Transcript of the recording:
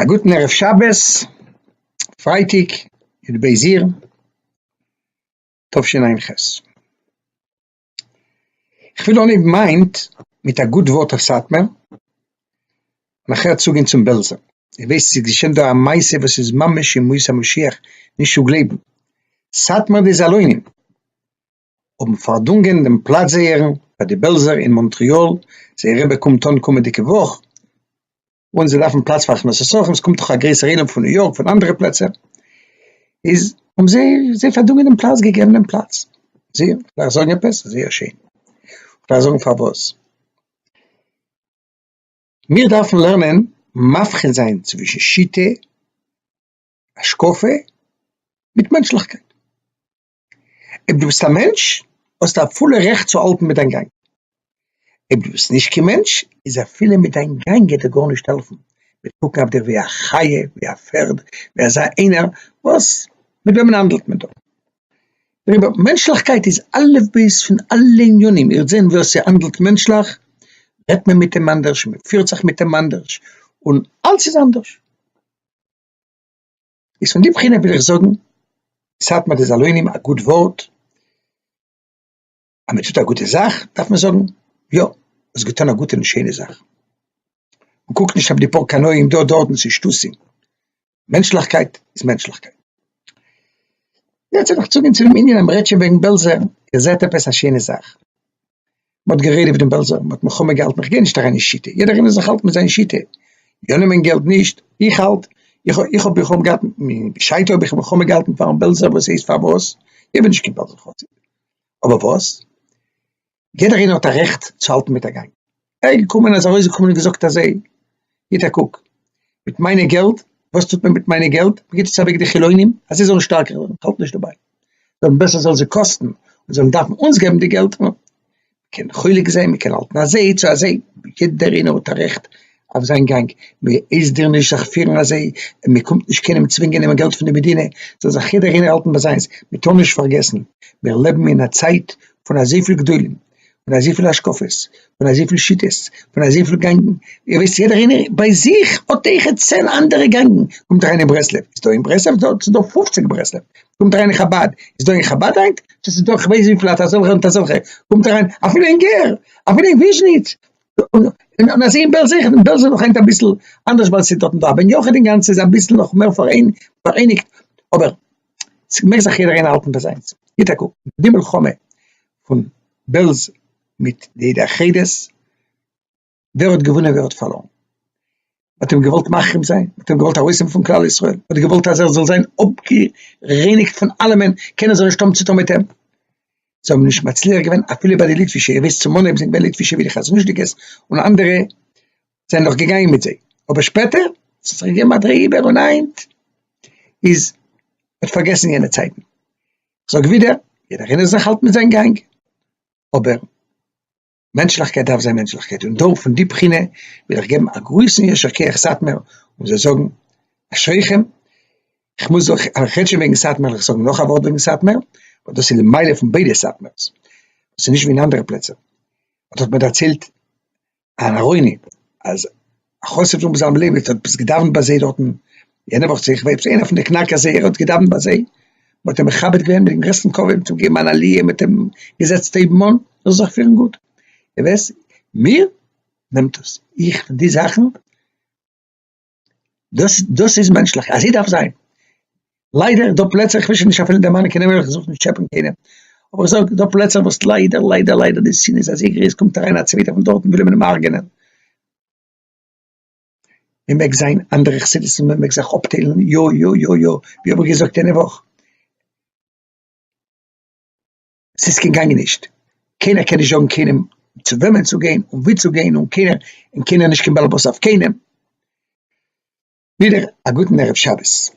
א גוטן ערב שבת, פרייטאג, יו ט בעז י, תשע ע ח. כ'וויל אנהייבן היינט מיט א גוט ווארט אויף סאטמאר, נאכער צוגיין צום בעלזער. איר ווייסט ס'איז געשען דא א מעשה וואס איז ממש ימות המשיח נישט צו גלייבן. סאטמאר די זאלוינים. האבן פארדונגען דעם פלאץ זייערן פאר די בעלזער אין מאנטריאל, זייער רבי קומט אן קומענדיגע וואך, און זיי דארפן פלאץ פאר הכנסת אורחים, עס קומט דאך א גרויסער עולם פון ניו יארק פון אנדערע פלעצער, איז האבן זיי זיי פארדונגען דעם פלאץ, געגעבן דעם פלאץ, זי דארף זאגן עפעס? זייער שיין, דארף זאגן פארוואס? מיר דארפן לערנען מבחין זיין צווישן שיטה, השקפה, מיט מענטשליכקייט. אויב דו ביסט א מענטש, האסטו א פולע רעכט צו האלטן מיט דיין גאנג. אויב דו ביסט נישט קיין מענטש, איז אפילו מיט דיין גאנג גייט דיר גארנישט העלפן, מ'וועט קוקן אויף דיר ווי א חיה, ווי א פערד, ווי אזא איינער וואס, מיט וועמען האנדלט מען דא? דעריבער, מענטשליכקייט איז אלף בית פון אלע ענינים, איר וועט זען ווער ס'האנדלט מענטשליך, רעדט מען מיט אים אנדערש, מ'פירט זיך מיט אים אנדערש, און אלס איז אנדערש. איז פון די בחינה וויל איך זאגן סאטמאר די זאלוינים א גוט ווארט, אז מען טוט א גוטע זאך דארף מען זאגן יא האסט געטון א גוטע און שיינע זאך, מען קוקט נישט אויף די פאר קנאים דא דארטן צו שטותים, מענטשליכקייט איז מענטשליכקייט. יעצט וויל איך צוגיין צו דעם ענין אז מען רעדט שוין וועגן בעלזער, איר זעט עפעס א שיינע זאך? מען האט גערעדט איבער דעם בעלזער, מען האט מלחמה געהאלטן, איך גיי נישט אריין אין שיטה, יעדער איינער זאל זיך האלטן מיט זיין שיטה, יא נעמען געלט נישט, איך האלט, איך האב, איך האב מלחמה געהאלטן, בשעתו האב איך מלחמה געהאלטן פארן בעלזער וואס הייסט פארוואס, איך בין נישט קיין בעלזער חסיד, אבער וואס, יעדער איינער האט א רעכט צו האלטן מיט א גאנג. ער איז געקומען, ער איז ארויסגעקומען און געזאגט אזוי, גיט א קוק מיט מיינע געלט, וואס טוט מען מיט מיינע געלט? מען גיט עס אוועק די חילונים אז זיי זאלן שטארקער ווערן, איך האלט נישט דערביי, זאלן בעסער זאל זיי קאסטן, און זאלן דארפן אונז געבן די געלט, מען קען חולק זיין, מען קען האלטן אזוי צו אזוי, יעדער איינער האט א רעכט אויף זיין גאנג, מען הייסט דיר נישט זיך פירן אזוי, און מען קומט נישט קיינעם צווינגען נעמען געלט פון די מדינה, זאל זיך יעדער איינער האלטן ביי זיינס, מען טאר נישט פארגעסן מיר לעבן אין א צייט פון אזויפיל גדולים, פון אזויפיל השקפות, פון אזויפיל שיטות, פון אזויפיל גענגן, איר ווייסט יעדער איינער ביי זיך האט אויך צען אנדערע גענגן, קומט אריין אין ברסלב, איז דא אין ברסלב דארט איז דא פופציג ברסלב, קומט אריין אין חבד, איז דא אין חבד היינט, דאס איז דא איך ווייס וויפיל אט אזעלכע אט אזעלכע, קומט אריין אפילו אין גער, אפילו אין וויזשניץ, און אזוי אין בעלז אויכעט, אין בעלז איז נאך היינט אביסל אנדערש ווייל ס'איז דארטן דא א בן יחיד אינגאנצן איז אביסל נאך מער פאראייניגט, אבער ס'מעג זיך יעדער איינער האלטן ביי זיינס, גיט א קוק, די מלחמה פון בעלז מיט די עדה החדס, ווער האט געוואונען ווער האט פארלוירן? מ'האט אים געוואלט מחרים זיין, מ'האט אים געוואלט ארויסהאבן פון כלל ישראל, מ'האט געוואלט אז ער זאל זיין אפגערייניגט פון אלעמען, קענען זיי נישט האבן צוטון מיט אים, זיי האבן נישט מצליח געווען אפילו ביי די ליטווישע, איר וויסט צום אנהייב זענען געווען ליטווישע ווי די חזנוש'דיגעס און אנדערע זענען נאך געגאנגען מיט זיי, אבער שפעטער ס'האט זיך געגעבן א דריי איבער און היינט איז, מ'האט פארגעסן יענע צייטן. זאג ווידער, יעדער איינער זאל זיך האלטן מיט זיין גאנג, אבער מענטשליכקייט דארף זיין מענטשליכקייט, און דא פון די בחינה וויל איך געבן א גרויסן יישר כח סאטמער, און זיי זאגן אשריכם, איך מוז אויך, אז איך רעד שוין וועגן סאטמער, וועל איך זאגן נאך א ווארט וועגן סאטמער, ווייל דאס איז די מעלה פון ביידע סאטמער'ס, דאס איז נישט ווי אין אנדערע פלעצער, האט מען דערציילט אהרוני אז א חסיד פון בזלם ליבערט האט עפעס געדאווענט ביי זיי דארטן יענע וואך צו איך ווייס נישט איינער פון די קנאק אז ער האט געדאווענט ביי זיי מען האט אים מכבד געווען מיטן גרעסטן כבוד מען האט אים געגעבן אן עליה מען האט אים געזעצט אויבן אן ער זאל זיך פירן גוט און ווער עס מיר נעמט עס איך די זאכן דאס דאס איז מענטשליך אזוי דארף זיין, ליידער דא פלעצער איך וויל שוין נישט אפילו דערמאנען קיין נעמען ווייל איך זוך נישט טשעפען קיינעם, אבער איך זאג דא פלעצער וואס ליידער ליידער ליידער די שנאה איז אזוי גרויס קומט אריין א צווייטער פון דארטן וויל אים אינעם הרג'נען, מען מעג זיין אנדערע חסידות'ן מען מעג זיך אפטיילן יא יא יא יא ווי האב איך געזאגט יענע וואך. ס'איז קיין גאנג נישט, קיינער קען נישט זאגן קיינעם צו וועמען צו גיין און וואו צו גיין, און קיינער און קיינער נישט קיין באלעבאס אויף קיינעם. ווידער א גוטן ערב שבת.